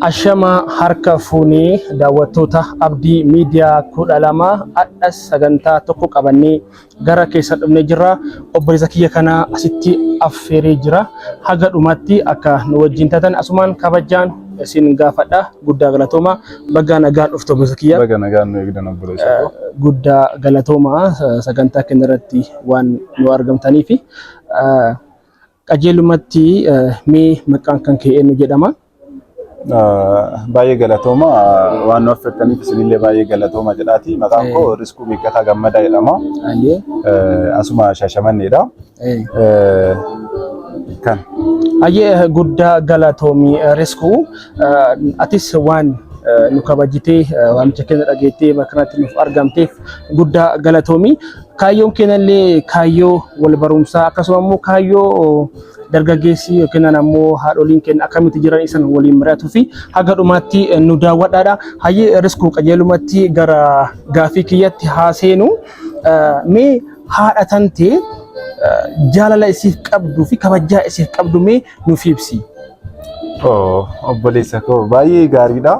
Ashama harka fuunee daawwattoota Abdii Miidiyaa kudha lama hadha sagantaa tokko qabannee gara keessan dhufnee jirra. Obboleessa kiyya kana asitti affeeree jira. Haga dhumatti akka nu wajjin tatan asumaan kabajaan isin gaafadha. Guddaa galatooma. Bagaa nagaan dhufte obboleessa kiyya. Baga nagaan nu eegdan obboleessa koo. Guddaa galatooma sagantaa keenya irratti waan nu argamtaniifi. Qajeelumatti mee maqaan kan kee eenyu jedhama? Baay'ee galatooma waan nu affeertaniif isinillee baay'ee galatooma jedhaati. Maqaan koo Riskuu Miikkataa Gammadaa jedhama. Ayyee. Asuma Shaashamanneedha. Kan. Ayyee guddaa galatoomi Riskuu. Atis waan nu kabajitee waamicha keenya dhageettee bakka kanatti nuuf argamteef guddaa galatoomi. Kaayyoon keenyallee kaayyoo wal barumsaa akkasuma immoo kaayyoo dargaggeessi yookiin ammoo haadholiin keenya akkamitti jiran isan waliin mari'atuu fi haga dhumaatti nu daawwadhaadha. Hayyee riskuu qajeelumatti gara gaafii kiyyatti haa seenu. Mee haadha tantee jaalala isiif qabduu fi kabajaa isiif qabdu mee nuuf ibsi. Oh, obboleessa koo baay'ee gaariidha.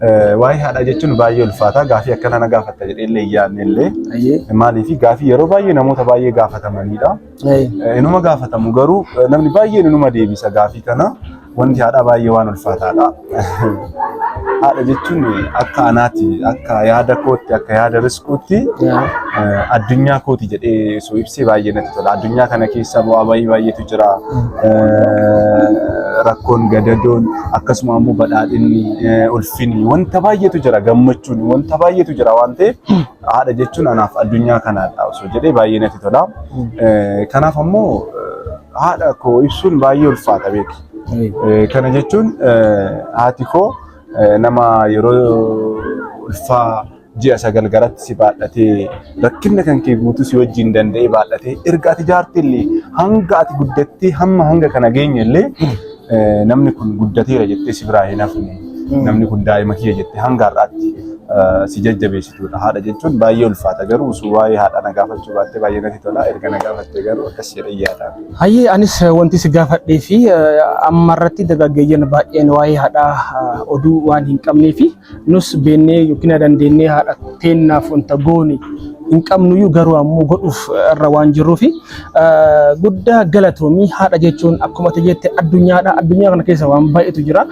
Eh, Waa'ee haadhaa jechuun baay'ee ulfaata. Gaafii akkana na gaafatta jedhee illee yaadne illee. Ayyee. Maaliif gaafii yeroo baay'ee namoota baay'ee gaafatamanidha. Ayyee. Eh, Inuma gaafatamu garuu eh, namni baay'een inuma deebisa gaafii kana. Wanti haadhaa baay'ee waan ulfaataadha. Haadha jechuun akka anaati, akka yaada kootti, akka yaada riskuutti addunyaa kooti jedhee osoo ibsee baay'ee natti tola. Addunyaa kana keessa bu'aa baay'ee baay'eetu jira. Rakkoon gadadoon akkasuma immoo badhaadhinni ulfinni wanta baay'eetu jira gammachuun wanta baay'eetu jira waan ta'eef haadha jechuun anaaf addunyaa kanaadha osoo jedhee baay'ee natti tola. Kanaaf ammoo haadha koo ibsuun baay'ee ulfaata beeki. Eh, Kana jechuun eh, haati koo eh, nama yeroo ulfaa ji'a sagal garatti si baadhatee rakkinna kan kee guutuu si wajjin danda'ee baadhatee erga ati jaartii illee hanga ati guddattee hamma hanga kana geenye illee eh, namni kun guddateera jettee si biraa hin hafne namni kun daa'ima kiyya jettee hanga har'aatti eh, si jajjabeessituudha haadha jechuun baay'ee ulfaata garuu utuu waa'ee haadhaa na gaafachuu baattee baay'ee natti tola erga na gaafattee garuu akkas jedhee yaada. Hayyee anis wanti si gaafadhee fi amma irratti dargaggeeyyan baay'een waa'ee haadhaa oduu waan hin qabnee fi nus beennee yookiin dandeennee haadha teennaaf wanta goone hin qabnuyyuu garuu ammoo godhuuf irra waan jirruu fi guddaa galatoomii haadha jechuun akkuma ati jette addunyaadha addunyaa kana keessa waan baay'eetu jira.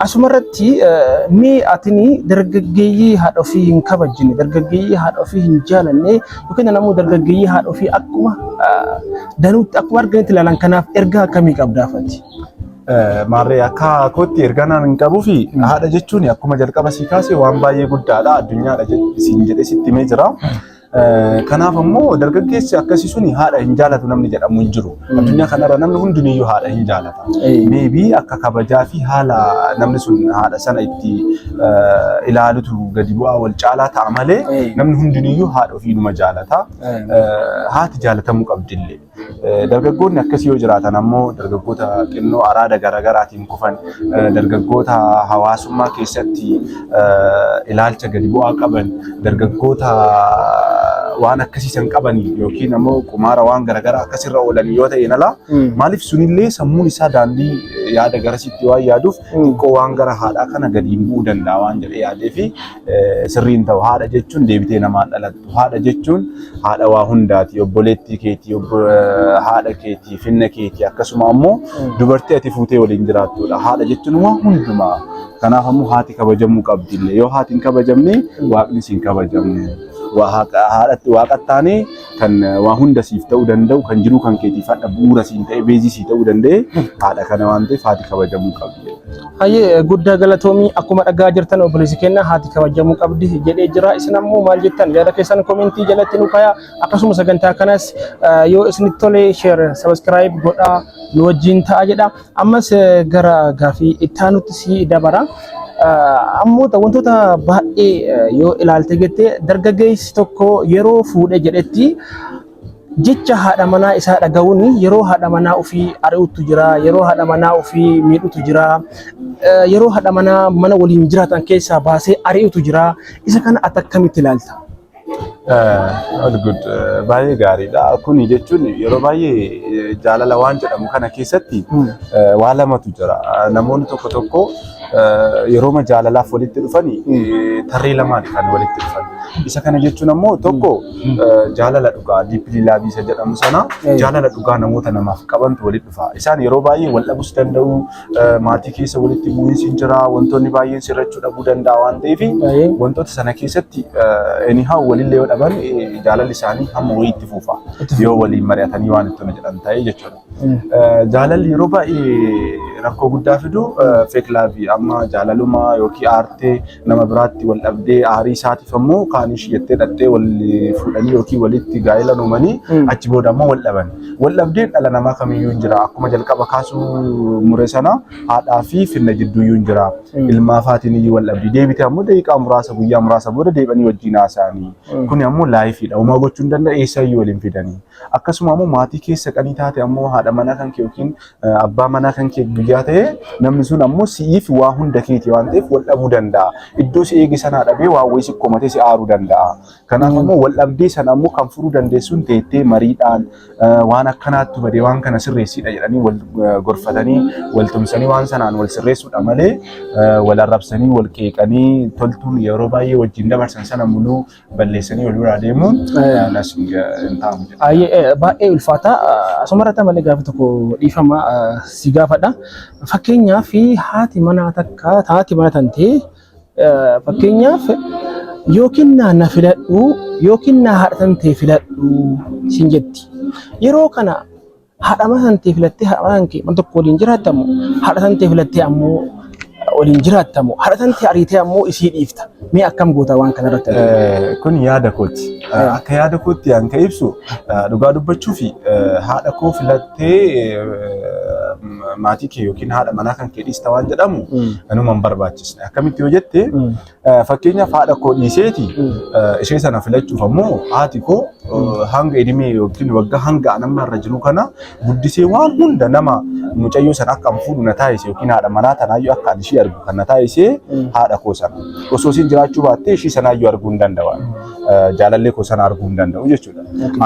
Asuma irratti mee atini dargaggeeyyii haadha ofii hin kabajjine, dargaggeeyyii haadha ofii hin jaalanne yookiin ammoo dargaggeeyyii haadha ofii akkuma danuutti akkuma arganitti ilaalan kanaaf ergaa akkamii qabdaa fati? Maarree akka kootti ergaa naan hin qabuu fi haadha jechuun akkuma jalqaba sii kaase waan baay'ee guddaadha addunyaadha siin jedhee sitti himee jira. Kanaaf ammoo dargaggeessi akkasii suni haadha hin jaalatu namni jedhamu hin jiru. Addunyaa kanarra namni hundiniyyuu haadha hin jaalata. Meebii akka kabajaa fi haala namni sun haadha sana itti ilaalutu gadi bu'aa wal caalaa ta'a malee namni hundiniyyuu haadha ofiinuma jaalata. Haati jaalatamuu qabdillee. Dargaggoonni akkasii yoo jiraatan ammoo dargaggoota xinnoo araada garaagaraatiin kufan, dargaggoota hawaasummaa keessatti ilaalcha gadi bu'aa qaban, dargaggoota waan akkasii san qaban yookiin ammoo qumaara waan garaagaraa akkasirra oolan yoo ta'e ala maaliif sunillee sammuun isaa daandii yaada garasitti waan yaaduuf xiqqoo waan gara haadhaa kana gadiin bu'uu danda'a waan jedhee yaadee fi sirrii hin ta'u. Haadha jechuun deebitee namaa dhalattu. Haadha jechuun haadha waa hundaati. Obboleettii keetii, obbo- eh, haadha keetii, finna keetii akkasuma ammoo dubartii ati fuutee waliin jiraattudha. Haadha jechuun waa hundumaa. Kanaaf ammoo haati kabajamuu qabdi illee. Yoo haati hin kabajamne waaqnis hin kabajamu. Waa haqa- Haadhatti waaqatti taanee kan waa hunda siif ta'uu danda'u kan jiruu kan keetiif hadha bu'uura siin ta'e beezii sii ta'uu danda'e haadha kana waan ta'eef haati kabajamuu qabdi. Hayyee guddaa galatoomii akkuma dhagaa jirtan obboleessi keenya haati kabajamuu qabdi jedhee jira isin ammoo maal jettan yaada keessan komentii jalatti nu kaayaa akkasuma sagantaa kanas eh, yoo isinitti tole share subscribe godhaa nu wajjin ta'a jedha. Ammas gara gaafii itti aanutti si dabara. Ammoota wantoota baay'ee yoo ilaalte jette dargaggeessi tokko yeroo fuudhe jedhetti jecha haadha manaa isaa dhaga'uun yeroo haadha manaa ofii ari'utu jira, yeroo haadha manaa ofii miidhutu jira, yeroo haadha manaa mana waliin jiraatan keessaa baasee ari'utu jira. Isa kana ati akkamitti ilaalta? Olgud baay'ee gaariidha. Kuni jechuun yeroo baay'ee jaalala waan jedhamu kana keessatti waa lamatu jira. Namoonni tokko tokko yerooma jaalalaaf walitti dhufani tarree lamaan kan walitti dhufan. Isa kana jechuun ammoo tokko jaalala dhugaa diippilii laabii isa jedhamu sana jaalala dhugaa namoota namaaf qabantu walitti dhufa. Isaan yeroo baay'ee wal dhabus danda'u maatii keessa walitti bu'iinsi hin jira wantoonni baay'een sirrachuu dhabuu danda'a waan ta'eef Baay'ee. wantoota sana keessatti anyhow walillee yoo dhaban eh, jaalalli isaanii hamma wayii itti fufa yoo waliin mari'atanii waan itti jedhan ta'e jechuudha. Eh, Jaalalli yeroo baay'ee rakkoo guddaa fidu feek laavi amma jaalaluma yookiin aartee nama biraatti wal dhabdee aarii isaatiif ammoo kaan ishii jettee dhaqxee wal fuudhanii yookiin walitti gaa'ela uumanii Mm. achi booda ammoo wal dhaban. Waldhabdeen dhala namaa kamiyyuu hin jira. Akkuma jalqaba kaasuu mure sana haadhaa fi finna gidduuyyuu hin jira. Ilmaa faatiin iyyuu waldhabdii deebite ammoo daqiiqaa muraasa guyyaa muraasa booda deebanii wajjin haasa'anii. Kuni ammoo laayifiidha. Homaa gochuu hin danda'u eessa iyyuu waliin fidanii. Akkasuma ammoo maatii keessa qanii taate ammoo haadha manaa kan kee yookiin abbaa manaa kan kee guyyaa ta'e namni sun ammoo si'iif waa hunda keeti waan ta'eef wal dhabuu danda'a. Iddoo si eege sanaa dhabee waa wayii si komatee si aaruu danda'a. Kanaaf ammoo wal dhabdee sana ammoo kan furuu dandeessuun teettee mariidhaan waan akkanaattu badee waan kana sirreessiidha jedhanii wal gorfatanii wal tumsanii waan sanaan wal sirreessuudha malee wal arrabsanii wal qeeqanii toltuun yeroo baay'ee wajjin dabarsan sana muluu balleessanii wal biraa deemuun nas hin taa'amu. Baay'ee ulfaataa asumarratti malee gaafa tokko dhiifama si gaafadha. Fakkeenyaaf haati manaa takka haati mana tantee Fakkeenyaaf yoo kennaa na filadhu yoo kennaa haadha tan ta'e filadhu siin jetti. Yeroo kana haadha mana tan ta'e filattee haadha mana kee mana tokko waliin jiraattamu haadha tan ta'e filattee ammoo waliin jiraattamu haadha tan ta'e ariitee ammoo isii dhiifta. Mee akkam goota waan kana irratti? Kun yaada kooti. Akka yaada kootti an ka ibsu dhugaa dubbachuu fi haadha koo filadhu. maatii kee yookiin haadha manaa kan kee dhiista waan jedhamu nama hin barbaachisne. Akkamitti yoo jette fakkeenyaaf haadha koo dhiiseeti ishee sana filachuuf ammoo haati koo hanga edimee yookiin waggaa hanga anamma irra jiru kana guddisee waan hunda nama mucayyoo sana akka an fuudhu na taasise yookiin haadha manaa tanaayyuu akka an ishii argu kan na taasise haadha koo sana. Osoo isheen jiraachuu baattee ishii sanaayyuu arguu hin danda'u. Jaalallee koo sana arguu hin danda'u jechuudha.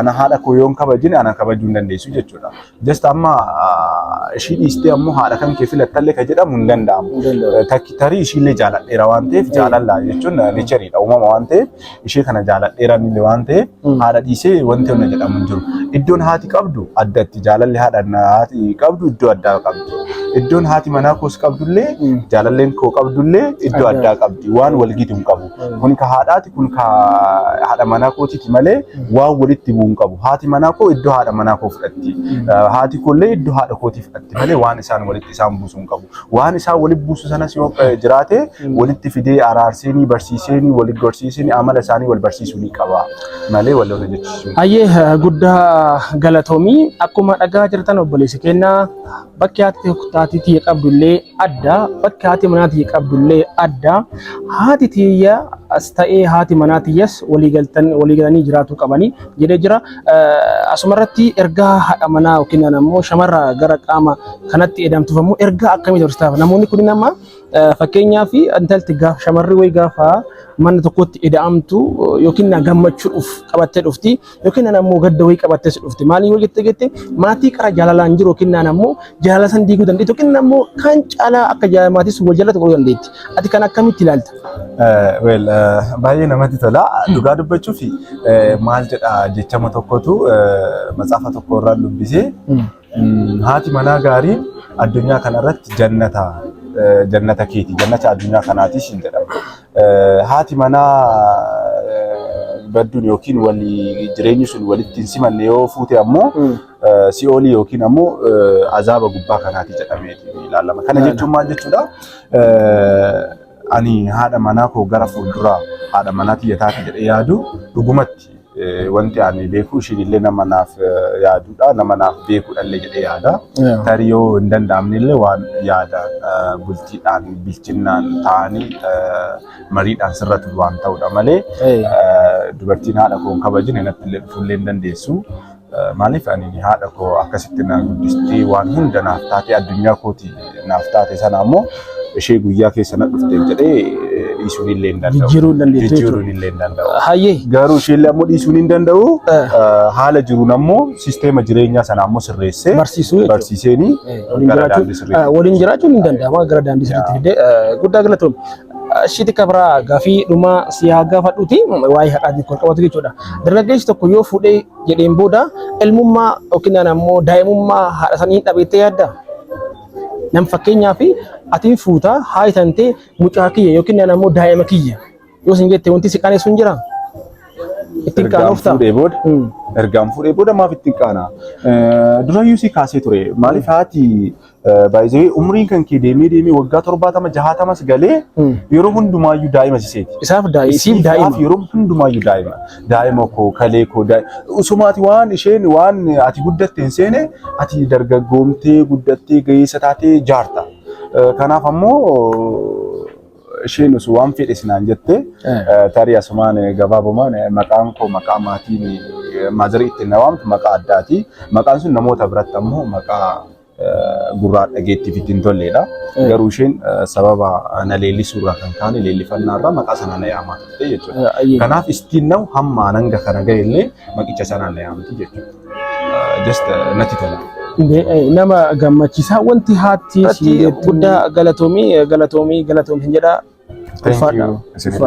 Ana haadha koo yoon kabajine ana kabajuu hin dandeessu jechuudha. Just amma ah, ishii dhiistee ammoo haadha kan kee filattallee ka jedhamu hin danda'amu. Hin danda'amu. Eh, Takki tarii ishiillee jaaladheera waan ta'eef jaalalla jechuun neechariidha uumama waan ta'eef ishee kana jaaladheera inni waan ta'eef Mm. haadha dhiisee wanti hunda jedhamu hin jiru. Iddoon haati qabdu addatti jaalalli haadha haati qabdu iddoo addaa qabdi. Iddoon haati manaa koos qabdullee Mm. jaalalleen koo qabdullee iddoo Addaa. addaa qabdi waan walgitu hin qabu. Kun ka haadhaati kun ka haadha manaa kootiiti malee waan walitti bu'u hin qabu. Haati manaa koo iddoo haadha manaa koo fudhatti. Haati koollee iddoo haadha kootii fudhatti malee waan isaan walitti isaan buusu hin qabu. Waan isaan walitti buusu sanas yoo jiraate walitti fidee araarseenii barsiiseenii walitti gorsiiseenii amala isaanii wal barsiisuu ni qaba malee wal lola jechuun. Hayyee eh, guddaa galatoomii akkuma dhagaa jirtan obboleessi keenya bakki haati taatiitii qabdu illee adda bakki haati manaa tiyya qabdullee adda haati tiyya as ta'ee haati manaa tiyyas walii galtan walii galanii jiraatuu qabanii jedhee jira. Eh, Asuma irratti ergaa haadha manaa yookiin ammoo shamarra gara qaama kanatti edamtuuf ammoo ergaa akkamii dabarsitaa? Namoonni kun nama eh, fakkeenyaaf intalti gaaf shamarri wayi gaafa mana tokkotti eda'amtu eh, yookiin na gammachuudhuuf qabattee dhufti. yookiin naan ammoo gadda wayii qabattee si dhufte maaliin yoo jette jette maatii qara jaalalaan jiru yookiin naan ammoo jaalala san diiguu dandeetti yookiin ammoo kan caalaa akka jaalala maatii sun wal jaalatu godhuu dandeetti ati kan akkamitti ilaalta? Wel baay'ee namatti tola dhugaa dubbachuuf maal jedha jechama tokkotu matsaafa tokko irraa dubbisee Haati manaa gaariin addunyaa kanarratti jannata jannata keeti jannata addunyaa kanaati siin jedhama. Haati manaa badduun yookiin walii jireenyi sun walitti hin simanne yoo fuute ammoo si'oolii yookiin ammoo azaaba gubbaa kanaati jedhamee ilaalama. Kana jechuun maal jechuudha? Ani haadha manaa koo gara fuulduraa haadha manaa tiyya taati jedhee yaadu dhugumatti wanti ani beeku ishiin illee nama naaf yaadudha nama naaf beekudha illee jedhee yaada. Yeah. Tarii yoo hin danda'amne illee waan yaada eh, bultiidhaan bilchinnaan ta'anii eh, mariidhaan sirratu waan ta'udha malee Hey. eh, dubartiin haadha koo hin kabajine natti illee dhufuu illee hin dandeessu. Maaliif ani haadha koo akkasitti na guddistee waan hunda naaf taatee addunyaa kooti naaf taate sana ammoo ishee guyyaa keessa na dhufte jedhee dhiisuun illee hin danda'u. Jijjiiruu hin dandeessu jechuudha. Jijjiiruun illee hin danda'u. Hayyee. Garuu ishee illee ammoo dhiisuun hin danda'u. Eh. Haala jiruun ammoo sisteema jireenyaa sana ammoo sirreessee Barsiisuu jechuudha. barsiiseenii Eh, waliin gara jiraachuun- daandii sirriitti. eh, waliin jiraachuun hin danda'ama gara daandii sirriitti fidee eh, guddaa galatoomi. Shiti kabraa gafii dhumaa si haa gaafadhuti waa'ee haqaatiin kan qabatu jechuudha. Dargaggeessi tokko yoo fuudhee jedheen booda ilmummaa yookiin ammoo daa'imummaa haadha sanii dhabeettee yaadda? Nam fakkeenyaaf atiin fuutaa haati tantee mucaa kiyya yookiin ammoo daa'ima kiyya yoo sin jette wanti si qaanessu hin jiraa? Ittiin Ergaan qaanofta. fuudhee booda Mm. ergaan fuudhee booda maaf ittiin qaana? Durayyuu si kaasee ture. Maaliif haati Baay'ee umriin kan kee deemee deemee waggaa torbaatama jahaatamas galee yeroo hundumaayyuu daa'ima siseeti. Isaaf daa'ima. Isiif daa'ima. Yeroo hundumaayyuu daa'ima. Daa'ima koo kalee koo osuma ati waan isheen waan ati guddatte hin seene ati dargaggoomtee guddattee ga'eessa taatee jaarta. Kanaaf ammoo isheen osoo waan fedhe sinaan jette tarii asumaan gabaabumaan maqaan koo maqaa maatiin maazarii ittiin na waamtu maqaa addaati. Maqaan sun namoota biratti ammoo maqaa gurraa dhageettiif itti hin tolleedha. Garuu isheen sababa na leellisuurraa kan kaane leellifannaarraa maqaa sana na yaamaa turte jechuudha. Kanaaf istiin na'u hamma hanga kana ga'e illee maqicha sana na yaamti jechuudha. Just natti tola. Nama gammachiisaa wanti haatti guddaa galatoomii galatoomii galatoomii jedhaa. Thank you.